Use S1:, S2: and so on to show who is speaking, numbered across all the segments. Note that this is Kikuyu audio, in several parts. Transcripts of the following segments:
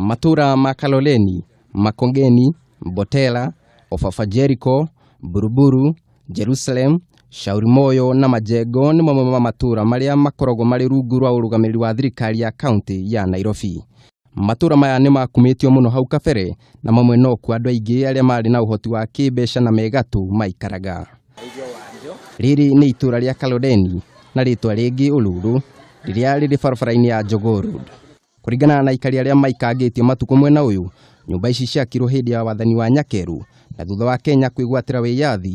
S1: matũũra ma kaloleni makongeni mbotela ofafa jeriko buruburu jerusalem shauri moyo na majengo nĩ mamwe ma matũũra marĩa makoragwo marĩ rungu rwa ũrũgamĩrĩri wa thirikari ya kaunti ya nairobi Matũra maya nĩ makumĩtio mũno hau kabere na mamwe no kuo andũ aingĩ arĩa marĩ na ũhoti wa kĩmbeca na megatũ maikaraga. Rĩrĩ nĩ itũra rĩa Kalodeni na rĩtwa rĩngĩ Uluru rĩrĩa rĩrĩ barabara-inĩ ya Jogoo Road. Kũringana na aikari arĩa maikangĩtio matukũ mwena ũyũ, nyũmba ici ciakirwo hĩndĩ ya wathani wa Nyakeru na thutha wa Kenya kwĩgwatĩra wĩyathi,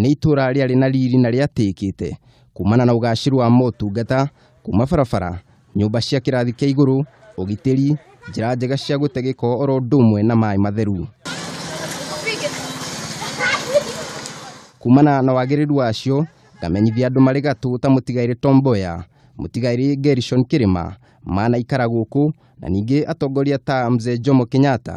S1: Nĩ itũũra rĩarĩ na riri na rĩatĩĩkĩte kumana na ũgaacĩru wa motungata kuma barabara, nyũmba cia kĩrathi kĩa igũrũ, ũgitĩri, njĩra njega cia gũte gĩko oro ũndũ ũmwe na maĩ matheru. Kumana na wagĩrĩru wacio, ngamenyithia andũ marĩ gatũ ta mũtigairĩ Tom Mboya, mũtigairĩ Gerishon Kĩrĩma, manaikara gũkũ na ningĩ atongoria ta Mzee Jomo Kenyatta,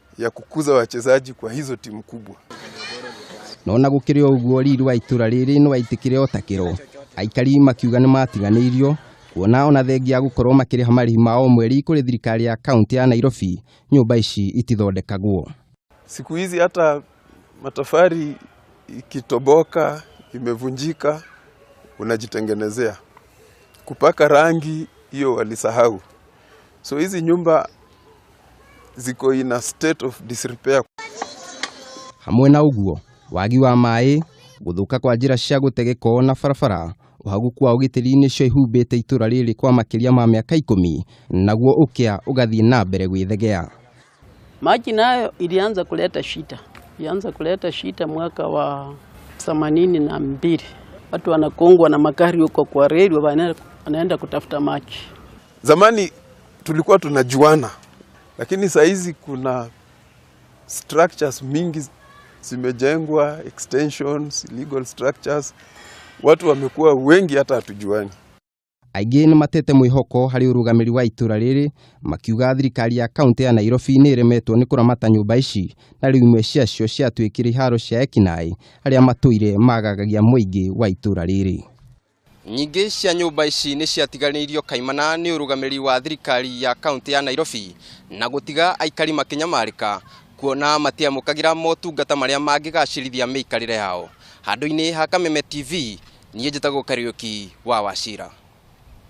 S2: ya kukuza wachezaji kwa hizo timu kubwa. no
S1: na gũkĩrĩ o ũguo riri wa itũra rĩrĩ nĩ waitĩkire o ta kĩro aikari makiuga nĩ matiganĩirio kuona ona thengia gũkorwo makĩrĩha marĩhi ma o mweri kũrĩ thirikari ya kaunti ya nairobi nyũmba ici itithondekagwo Siku hizi
S2: hata matofali ikitoboka, imevunjika, unajitengenezea. Kupaka rangi hiyo walisahau. So hizi nyumba ziko in a state of disrepair.
S1: Hamwe na ũguo, wagi wa maĩ, gũthũka kwa njĩra cia gũtegeko na barabara, ũhaguku wa ũgitĩri nĩcio ihumbĩte itũra rĩrĩ kwa makĩria ma mĩaka ikũmi, naguo ũkĩa ũgathiĩ na mbere gwĩthegea. Maji
S3: nayo ilianza kuleta shida, ilianza kuleta shida mwaka wa themanini na mbili. Watu wanakongwa na magari huko kwa reli, wanaenda kutafuta maji. Zamani
S2: tulikuwa tunajuana, lakini saa hizi kuna structures mingi zimejengwa, extensions, legal structures, watu wamekuwa wengi hata hatujuani. Aingĩ
S1: nĩ matete mwĩhoko harĩ ũrũgamĩri wa itũra rĩrĩ makiuga thirikari ya kaunti ya Nairobi nĩ ĩremetwo nĩ kũramata nyũmba ici na rĩu imwe ciacio ciatuĩkire iharo cia ekinaĩ arĩa matũire magagagia mũingĩ wa itũra rĩrĩ. Nyingĩ cia nyũmba ici nĩ ciatiganĩirio kaimana nĩ ũrũgamĩrĩri wa thirikari ya kaunti ya Nairobi na gũtiga aikari makĩnyamarĩka kuona matiamũkagĩra motungata marĩa mangĩgacĩrithia mĩikarĩre yao. Handũ-inĩ ha Kameme TV, niĩ njĩtagwo Kariũki wa Wachira.